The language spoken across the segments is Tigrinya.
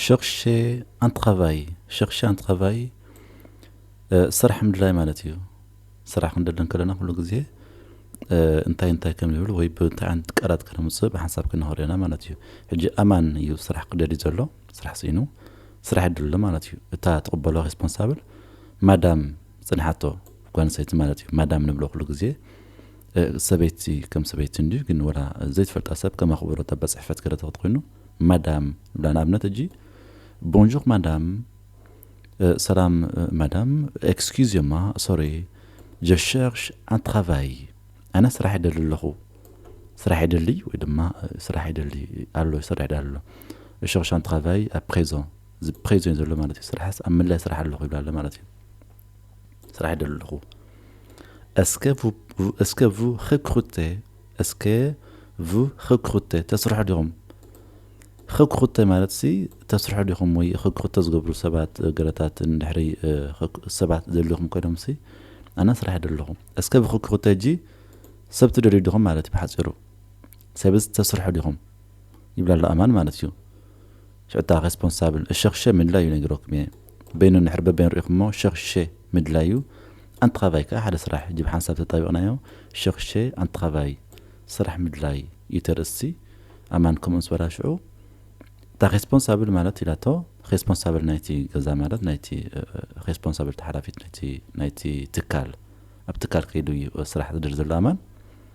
ሸርሸ ኣን ትራቫይ፣ Chercher un travail፣ ስራሕ ምድላይ ማለት እዩ። ስራሕ ክንደሊ እንከለና ኩሉ ግዜ እንታይ እንታይ ከም ዝብል ወይ ብእንታይ ዓይነት ቃላት ከነምጽእ ብሓንሳብ ክንኸዶ ኢና ማለት እዩ። ሕጂ ኣማን እዩ ስራሕ ክደልዩ ዘሎ፣ ስራሕ ስኢኑ ስራሕ ይደሊ ኣሎ ማለት እዩ። እታ ትቕበሎ ሬስፖንሳብል ማዳም ዝጸንሓቶ ጓል ኣንስተይቲ ማለት እዩ። ማዳም ንብሎ ኩሉ ግዜ ሰበይቲ ከም ሰበይቲ እንድዩ ግን ወላ ዘይትፈልጣ ሰብ ከም ኣኽብሮት ኣባ ጽሕፈት ገለ ተክት ኮይኑ ማዳም ንብላ ንኣብነት ሕጂ ቦንዡር ማዳም ሰላም ማዳም ኤክስኪዝማ ሶሪ ጀ ሸርሽ ኣን ትራቫይ ኣነ ስራሕ ይደሊ ኣለኹ ስራሕ ይደሊ ወይ ድማ ስራሕ ይደሊ ኣሎ ይሰርሕ ዳ ኣሎ ሸርሽ ኣን ትራቫይ ኣብ ፕሬዞን እዚ ፕሬዞን እዩ ዘሎ ማለት እዩ ስራሕስ ኣብ ምንላይ ስራሕ ኣለኹ ይብላ ኣሎ ማለት እዩ ስራሕ ይደሊ ኣለኹ እስከ ቡ እስከ ቡ ሬክሩቴ Est-ce que vous recrutez? ተስርሑ ዲኹም? Recruter ማለት ሲ ተስርሑ ዲኹም ወይ recruter ዝገብሩ ሰባት ገለታት እንድሕሪ ሰባት ዘድልዩኹም ኮይኖም ሲ ኣና ስራሕ ይደለኹ። Est-ce que vous recrutez ሕጂ ሰብ ትደልዩ ዲኹም ማለት እዩ ብሓጺሩ። ሰብስ ተስርሑ ዲኹም? ይብላ ኣሎ ኣማን ማለት እዩ። ሽታ ሬስፖንሳብል እሸኽሸ ምድላይ እዩ ነጊረኩም እየ በይኑ እንድሕር በበይኑ ሪኢኹሞ ሸኽሸ ምድላይ እዩ ኣንትኻቫይ ከኣ ሓደ ስራሕ እጂ ብሓንሳብ ተጣቢቕናዮ ሸኽሸ ኣንትኻቫይ ስራሕ ምድላይ እዩ ተርእስቲ ኣማን ከምኡ ምስ በላ ሽዑ እታ ሬስፖንሳብል ማለት ኢላቶ ሬስፖንሳብል ናይቲ ገዛ ማለት ናይቲ ሬስፖንሳብል ተሓላፊት ናይቲ ናይቲ ትካል ኣብ ትካል ከይዱ እዩ ስራሕ ዝድር ዘሎ ኣማን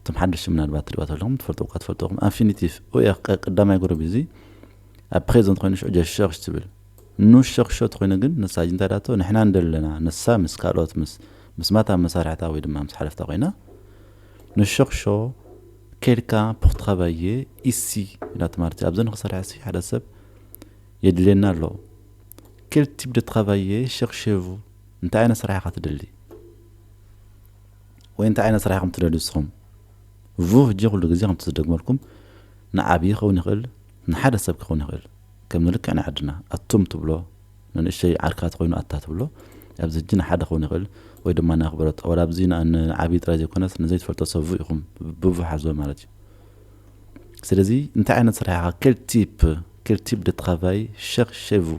እቶም ሓደሽቲ ምናልባት ትሪእዋ ተለኹም ትፈልጥዎ እኳ ትፈልጥዎ ኢኹም ኣንፊኒቲቭ ኡየ ቀዳማይ ጉሩብ እዚ ኣብ ፕሬዘንት ኮይኑ ሽዑ ጀሸኽሽ ትብል ኑሸኽሾ ተኾይኑ ግን ንሳ ሕጂ እንታይ ዳቶ ንሕና ንደሊ ኣለና ንሳ ምስ ካልኦት ምስ ምስማታ መሳርሕታ ወይ ድማ ምስ ሓለፍታ ኮይና ኑሸኽሾ ኬድካ ፑኽ ትኻባየ ኢሲ ኢላቶ ማለት እዩ ኣብዚ ንክሰርሐሲ ሓደ ሰብ የድልየና ኣሎ ኬል ቲፕ ደ ትኻባየ ሸኽሼቭ እንታይ ዓይነት ስራሕ ኢኻ ትደሊ ወይ እንታይ ዓይነት ስራሕ ኢኹም ትደልዩ ንስኹም? ቭህጂ ኩሉ ግዜ ከምቲ ዝደግመልኩም ንዓብዪ ክኸውን ይኽእል ንሓደ ሰብ ክኸውን ይኽእል ከም ንልክዕ ናይ ዓድና ኣቱም ትብሎ ንንእሽተይ ዓርካት ኮይኑ ኣታ ትብሎ ኣብዚ ህጂ ንሓደ ክኸውን ይኽእል ወይ ድማ ንኣኽብሮት ወላ ኣብዚ ንዓብዪ ጥራይ ዘይኮነስ ንዘይትፈልጦ ሰብ ቭ ኢኹም ብቭ ሓዝዎ ማለት እዩ ስለዚ እንታይ ዓይነት ስራሕ ኢኻ ኬል ቲፕ ኬል ቲፕ ደ ትራቫይ ሸር ሼ ቭ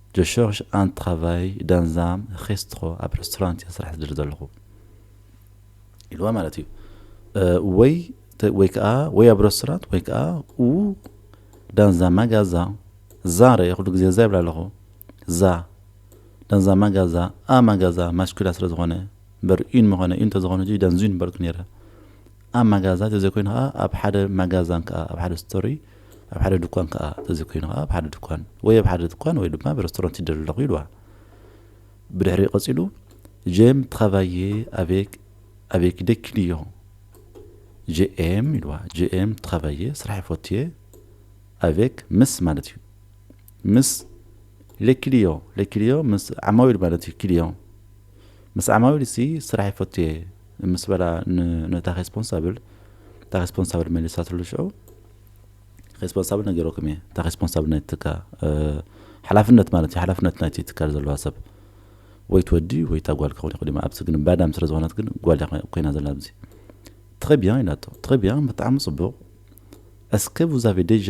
Je cherche un travail dans un restro ኣብ ረስቶራንት እየ ስራሕ ዝደሊ ዘለኹ ኢልዋ ማለት እዩ ወይ ወይ ከዓ ወይ ኣብ ረስቶራንት ወይ ከዓ ኡ ዳንዛ ማጋዛ ዛ ረ ኩሉ ግዜ ዛ ይብላ ኣለኹ ዛ ዳንዛ ማጋዛ ኣ ማጋዛ ማስኩላ ስለ ዝኾነ እምበር ዩን ምኾነ ዩን ተዝኾነ ዩ ዳንዙ ዩን በልኩ ነይረ ኣብ ማጋዛ ተዘይኮይኑ ከዓ ኣብ ሓደ ማጋዛን ከዓ ኣብ ሓደ ስቶሪ ኣብ ሓደ ድኳን ከኣ ተዘይኮይኑ ከኣ ኣብ ሓደ ድኳን ወይ ኣብ ሓደ ድኳን ወይ ድማ ኣብ ረስቶራንት ይደሊ ኣለኹ ኢሉዋ። ብድሕሪኡ ቀጺሉ ጄም ትራቫዬ ኣቬክ ኣቬክ ዴ ክሊዮን ጄኤም ኢሉዋ። ጄኤም ትራቫዬ ስራሕ ይፈቱ እየ ኣቬክ ምስ ማለት እዩ ምስ ሌ ክሊዮ ሌ ክሊዮ ምስ ዓማዊል ማለት እዩ ክሊዮ ምስ ዓማዊል ሲ ስራሕ ይፈቱ እየ ምስ በላ ነታ ሬስፖንሳብል እታ ሬስፖንሳብል መሊሳትሉ ሽዑ ሬስፖንሳብል ነገረኩም እየ እታ ሬስፖንሳብል ናይቲ ትካ ሓላፍነት ማለት እዩ ሓላፍነት ናይቲ ትካል ዘለዋ ሰብ ወይ ትወዲ ወይ እታ ጓል ክኸውን ይኽእል ኣብዚ ግን ባዳም ስለ ዝኾነት ግን ጓል ኮይና ዘላ ኣብዚ ትኸቢያ ኢላቶ ትኸቢያ ብጣዕሚ ፅቡቕ እስከ ቡዛፌ ደጃ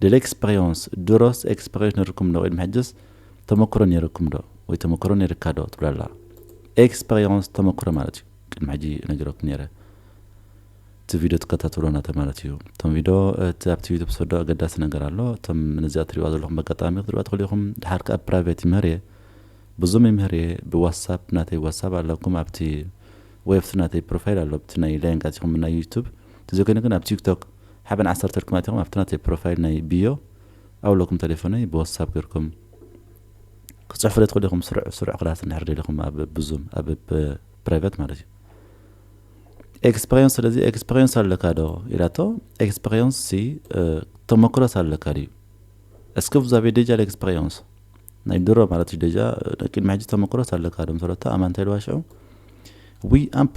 ደ ለክስፐሪዮንስ፣ ድሮስ ኤክስፐሪዮንስ ነይሩኩም ዶ ቅድሚ ሕጅስ ተመክሮ ነይሩኩም ዶ ወይ ተመክሮ ነይርካ ዶ ትብል ኣላ። ኤክስፐሪዮንስ ተመክሮ ማለት እዩ። ቅድሚ ሕጂ ነጊረኩም ነይረ እቲ ቪድዮ ትከታተሉ ናተ ማለት እዩ። እቶም ቪድዮ እቲ ኣብቲ ዩቱብ ሰዶ ኣገዳሲ ነገር ኣሎ። እቶም ነዚኣ ትሪእዋ ዘለኹም በጋጣሚ ክትሪእዋ ትኽእሉ ኢኹም። ድሓር ከኣ ፕራይቬት ይምህር እየ ብዙም ይምህር እየ ብዋትሳፕ ናተይ ዋትሳፕ ኣለኩም ኣብቲ ወይ ኣብቲ ናተይ ፕሮፋይል ኣሎ ኣብቲ ናይ ላይንግ ኣቲኹም ናይ ዩቱብ ተዘኮይነ ግን ኣብ ቲክቶክ ሓበን ዓሰርተ እልኩም ኣቲኩም ኣብቲ ናተይ ፕሮፋይል ናይ ቢዮ ኣው ለኩም ተሌፎነይ ብወሳብ ገርኩም ክጽሕፉለይ ትክእሉ ኢኩም ስሩዕ ስሩዕ ክላስ እንድሕር ደሊኩም ኣብ ብዙም ኣብ ፕራይቨት ማለት እዩ ኤክስፐሪንስ ስለዚ ኤክስፐሪንስ ኣለካ ዶ ኢላቶ ኤክስፐሪንስ ሲ ተሞክሮስ ኣለካ ድዩ እስከ ዛቤ ደጃ ኤክስፐሪንስ ናይ ድሮ ማለት እዩ ደጃ ቅድሚ ሕጂ ተሞክሮስ ኣለካ ዶ ምስ በለቶ ኣማንታይ ኢልዋ ሽዑ ዊ ኣምፑ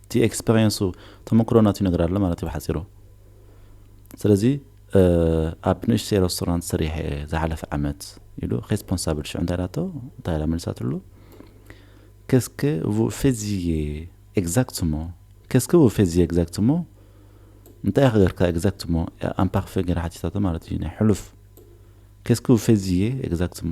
እቲ ኤክስፐርየንሱ ተመክሮ ናቱ ይነግር ኣሎ ማለት እዩ ብሓጺሩ። ስለዚ ኣብ ንእሽተይ ረስቶራንት ሰሪሐ እየ ዝሓለፈ ዓመት ኢሉ ሬስፖንሳብል ሽዑ እንታይ ኢላቶ እንታይ ኢላ መሊሳትሉ ከስከ ቡ ፌዚየ ኤግዛክትሞ ከስከ ቡ ፌዚየ ኤግዛክትሞ እንታይ ኢኻ ገርካ ኤግዛክትሞ ኣምፓርፌ ገይራ ሓቲታቶ ማለት እዩ ናይ ሕሉፍ ከስከ ቡ ፌዚየ ኤግዛክትሞ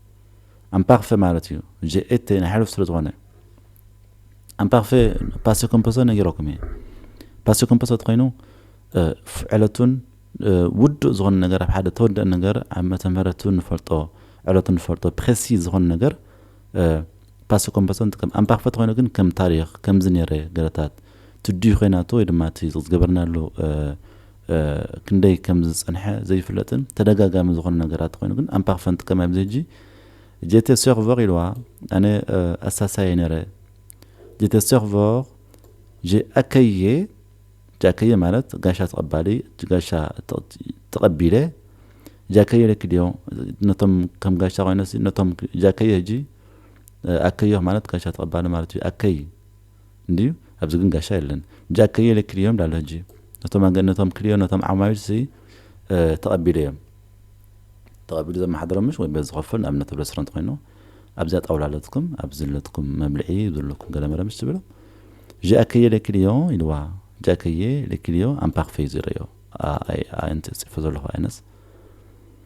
ኣምፓክፈ ማለት እዩ ጀኤቴ ናይ ሕሉፍ ስለ ዝኾነ ኣምፓክፈ ፓሴ ኮምፖሶ ነጊረኩም እየ ፓሴ ኮምፖሶ ተኮይኑ ዕለቱን ውዱእ ዝኾነ ነገር ኣብ ሓደ ተወደእ ነገር ዓመተ ምህረቱ ንፈልጦ ዕለቱ ንፈልጦ ፕሬሲ ዝኾነ ነገር ፓሴ ኮምፖሶ ንጥቀም ኣምፓክፈ ተኮይኑ ግን ከም ታሪክ ከምዚ ነይረ ገለታት ትድዩ ኮይናቶ ወይ ድማ እቲ ዝገበርናሉ ክንደይ ከም ዝጸንሐ ዘይፍለጥን ተደጋጋሚ ዝኾነ ነገራት ኮይኑ ግን ኣምፓኽ ፈንት ከማይ ኣብዚ ሕጂ ጀተ ሰርቨር ኢልዋ ኣነ ኣሳሳየ ነረ ጀተ ሰርቨር ጀኣከየ ጃከየ ማለት ጋሻ ተቐባሊ ጋሻ ተቐቢለ ጃከየ ለኪ ድዮ ነቶም ከም ጋሻ ኮይነሲ ነቶም ጃከየ ሕጂ ኣከዮህ ማለት ጋሻ ተቐባሊ ማለት እዩ ኣከይ እንድዩ ኣብዚ ግን ጋሻ የለን ብጃ ክልዮ ኢለ ክልዮ እንዳ ኣሎ ሕጂ ነቶም ኣገ ነቶም ክልዮ ነቶም ዓማዊል ሲ ተቀቢለ እዮም ተቀቢሉ ዘመሓድሮም ምሽ ወይ በዚ ዝኸፍል ንኣብነት ኣብ ረስረንት ኮይኑ ኣብዚኣ ጣውላ ኣለትኩም ኣብዚ ኣለትኩም መብልዒ ዘለኩም ገለመለ ምሽ ትብሎ ዣ ክየ ኢለ ክልዮ ኢልዋ ጃ ክየ ኢለ ክልዮ ኣምፓክፈይ ዝረዮ ኣይ ኣንቲ ጽፎ ዘለኹ ኣይነስ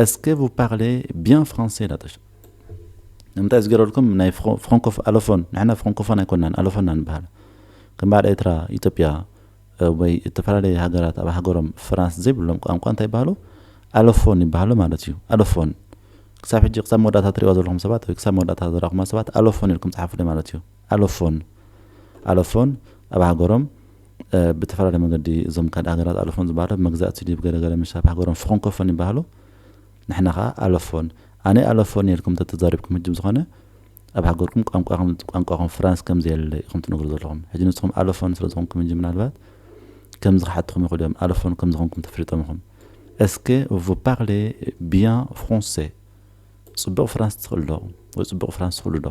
Est-ce que vous parlez bien français ላተሽ ንምንታይ ዝገረልኩም ናይ ፍሮንኮፍ ኣሎፎን ንሕና ፍሮንኮፎን ኣይኮናን ኣሎፎና ንበሃል ከም በዓል ኤርትራ ኢትዮጵያ ወይ እተፈላለየ ሃገራት ኣብ ሃገሮም ፍራንስ ዘይብሎም ቋንቋ እንታይ ይበሃሉ ኣሎፎን ይበሃሉ ማለት እዩ ኣሎፎን ክሳብ ሕጂ ክሳብ መወዳእታ ትሪእዋ ዘለኹም ሰባት ወይ ክሳብ መወዳእታ ዘራኹማ ሰባት ኣሎፎን ኢልኩም ጸሓፉለይ ማለት እዩ ኣሎፎን ኣሎፎን ኣብ ሃገሮም ብተፈላለየ መንገዲ እዞም ካልእ ሃገራት ኣሎፎን ዝበሃሉ ኣብ መግዛእቲ ድዩ ገለ ገለ ምስ ኣብ ሃገሮም ፍኾንኮፎን ይበሃሉ ንሕና ከኣ ኣሎፎን ኣነ ኣሎፎን እየ ኢልኩም ተተዛሪብኩም ህጂ ብዝኾነ ኣብ ሃገርኩም ቋንቋኹም ቋንቋኹም ፍራንስ ከም ዘየለ ኢኹም ትነግሩ ዘለኹም ሕጂ ንስኹም ኣሎፎን ስለ ዝኾንኩም እንጂ ምናልባት ከምዚ ክሓትኹም ይኽእሉ እዮም ኣሎፎን ከም ዝኾንኩም ተፈሊጦም ኢኹም እስከ ቭ ፓርሌ ቢያን ፍራንሴ ጽቡቕ ፍራንስ ትኽእሉ ዶ ወይ ጽቡቕ ፍራንስ ትኽእሉ ዶ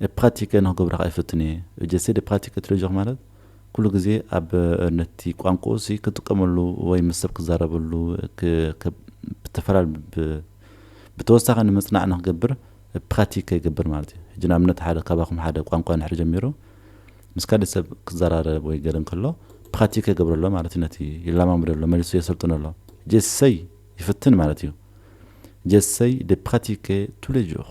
ብ ፕራቲከ ንክገብሮ ከኣ ይፍትን እየ። እጀ ሴ ደ ፕራቲከ ትለጆክ ማለት ኩሉ ግዜ ኣብ ነቲ ቋንቁኡ ሲ ክጥቀመሉ ወይ ምስ ሰብ ክዛረበሉ ክ ከ ብተፈላል ብ ብተወሳኪ ንምጽናዕ ንክገብር ብ ፕራቲከ ይገብር ማለት እዩ። ሕጂ ንኣብነት ሓደ ካባኩም ሓደ ቋንቋ እንድሕር ጀሚሩ ምስ ካሊእ ሰብ ክዘራረብ ወይ ገለ እንከሎ ፕራቲከ ይገብሮ ኣሎ ማለት እዩ ነቲ ይለማመዶ ኣሎ መሊሱ የሰልጥኖ ኣሎ። እጀ ሴይ ይፍትን ማለት እዩ። እጀ ሴይ ደ ፕራቲከ ቱሌጆክ።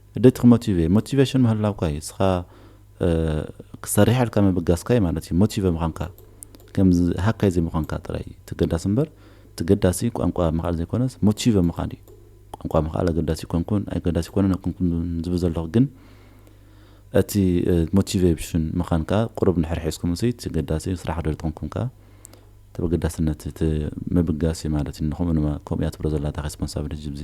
እንዴት ክሞቲቬ ሞቲቬሽን ምህላውካ እዩ እስኻ ክትሰርሕ ኢልካ ምብጋስካ እዩ ማለት እዩ ሞቲቨ ምዃንካ ከምዚ ሃካይ ዘይምዃንካ ጥራይ እዩ ተገዳሲ እምበር ተገዳሲ ቋንቋ ምኽኣል ዘይኮነስ ሞቲቨ ምዃን እዩ ቋንቋ ምኽኣል ኣገዳሲ ይኮንኩን ኣይገዳሲ ይኮነን ኣይኮንኩን ዝብል ዘለኹ ግን እቲ ሞቲቬሽን ምዃን ከዓ ቁሩብ ንሕር ሒዝኩም እሲ ተገዳሲ ስራሕ ዶ ዝጠንኩም ከዓ ተበገዳስነት እቲ ምብጋስ እዩ ማለት እዩ ንኹምኡ ድማ ከምኡ እያ ትብሎ ዘላ እታ ሬስፖንሳብሊቲ ጅብዚ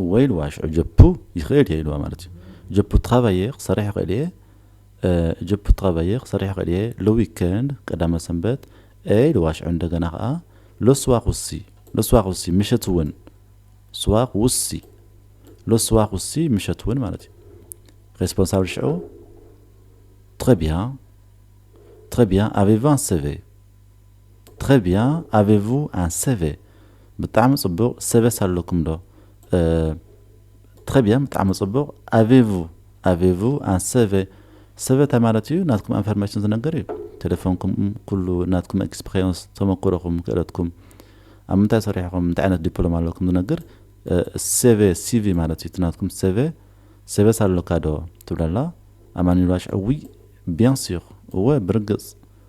እወ ኢልዋ ሽዑ ጀፑ ይኽእል እየ ኢልዋ ማለት እዩ ጀፑ ትኻባየ ክሰርሕ ይኽእል እየ ጀፑ ትኻባየ ክሰርሕ ይኽእል እየ ለዊከንድ ቀዳመ ሰንበት እ ኢልዋ ሽዑ እንደገና ከዓ ለስዋክ ውሲ ለስዋክ ውሲ ምሸት እውን ስዋክ ውሲ ለስዋክ ውሲ ምሸት እውን ማለት እዩ ሬስፖንሳብል ሽዑ ትኸቢያ ትኸቢያ ኣቬቫን ሰቨ Très bien avez vous un CV ብጣዕሚ ጽቡቅ ሰቨስ ኣለኩም ዶ Très bien ብጣዕሚ ጽቡቅ avez vous avez vous un CV ሰቨ ታይ ማለት እዩ ናትኩም ኣንፈርሜሽን ዝነገር እዩ ቴሌፎንኩም ኩሉ ናትኩም ኤክስፕሬንስ ተመኩሮኩም ክእለትኩም ኣብ ምንታይ ሰሪሕኩም እንታይ ዓይነት ዲፕሎም ኣለኩም ዝነግር CV CV ማለት እዩ እቲ ናትኩም CV ሰቨስ ኣለካ ዶ ትብለላ ኣማኒሏሽ እውይ ቢያን ሲር እወ ብርግጽ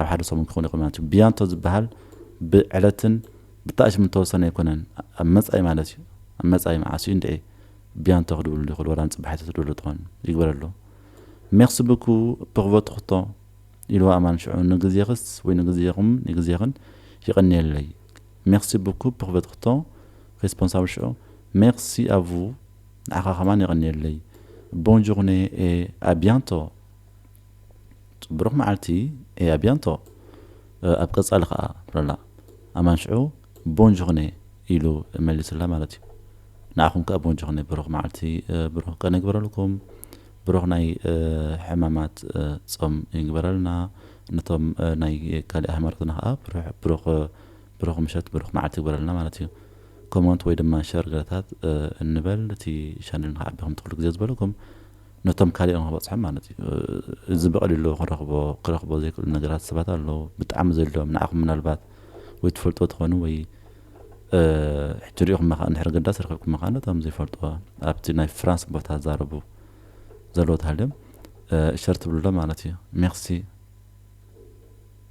ኣብ ሓደ ሰሙን ክኸውን ይኽእል ማለት እዩ። ብያንቶ ዝበሃል ብዕለትን ብጣሽምን ዝተወሰነ ኣይኮነን። ኣብ መጻኢ ማለት እዩ። ኣብ መጻኢ መዓስ እዩ እንድዒ ብያንቶ ክድውልሉ ይኽእሉ ወላ ንጽባሒት ክትድውልሉ ትኾን ይግበረሉ። ሜርሲ ብኩ ፕር ቮትር ሕቶ ኢልዋ ኣማን ሽዑ ንግዜኽስ ወይ ንግዜኹም ንግዜኽን የቐንየለይ። ሜርሲ ብኩ ፕር ቮትር ሕቶ ሬስፖንሳብል ሽዑ ሜርሲ ኣ ቭ ንዓኻ ከማን የቐንየለይ። ቦንዡር ኔ ኤ ኣ ብያንቶ። ጽቡሩክ መዓልቲ et à bientot ኣብ ቀጻሊ ከኣ በለላ ኣማን ሽዑ Bonne journée ኢሉ መሊሱላ ማለት እዩ ንዓኹም ከኣ Bonne journée ብሩክ መዓልቲ ብሩክ ቀን ይግበረልኩም ብሩክ ናይ ሕማማት ጾም ይግበረልና ነቶም ናይ ካሊእ ሃይማኖትና ከኣ ብሩክ ብሩክ ምሸት ብሩክ መዓልቲ ይግበረልና ማለት እዩ ኮሞንት ወይ ድማ ሸር ገለታት እንበል እቲ ቻነል ንክዓቢ ከምቲ ኩሉ ግዜ ዝበለኩም ነቶም ካሊኦም ክበጽሖም ማለት እዩ እዚ ብቀሊሉ ክረክቦ ክረክቦ ዘይክእሉ ነገራት ሰባት ኣለዉ ብጣዕሚ ዘድልዮም ንዓኩም ምናልባት ወይ ትፈልጥዎ ትኮኑ ወይ ሕጂ ሪኢኩም መካ እንድሕር ገዳስ ረክብኩም መካ ነቶም ዘይፈልጥዎ ኣብቲ ናይ ፍራንስ ቦታ ዛረቡ ዘለዎ ተሃልዮም ሸር ትብልሎ ማለት እዩ ሜርሲ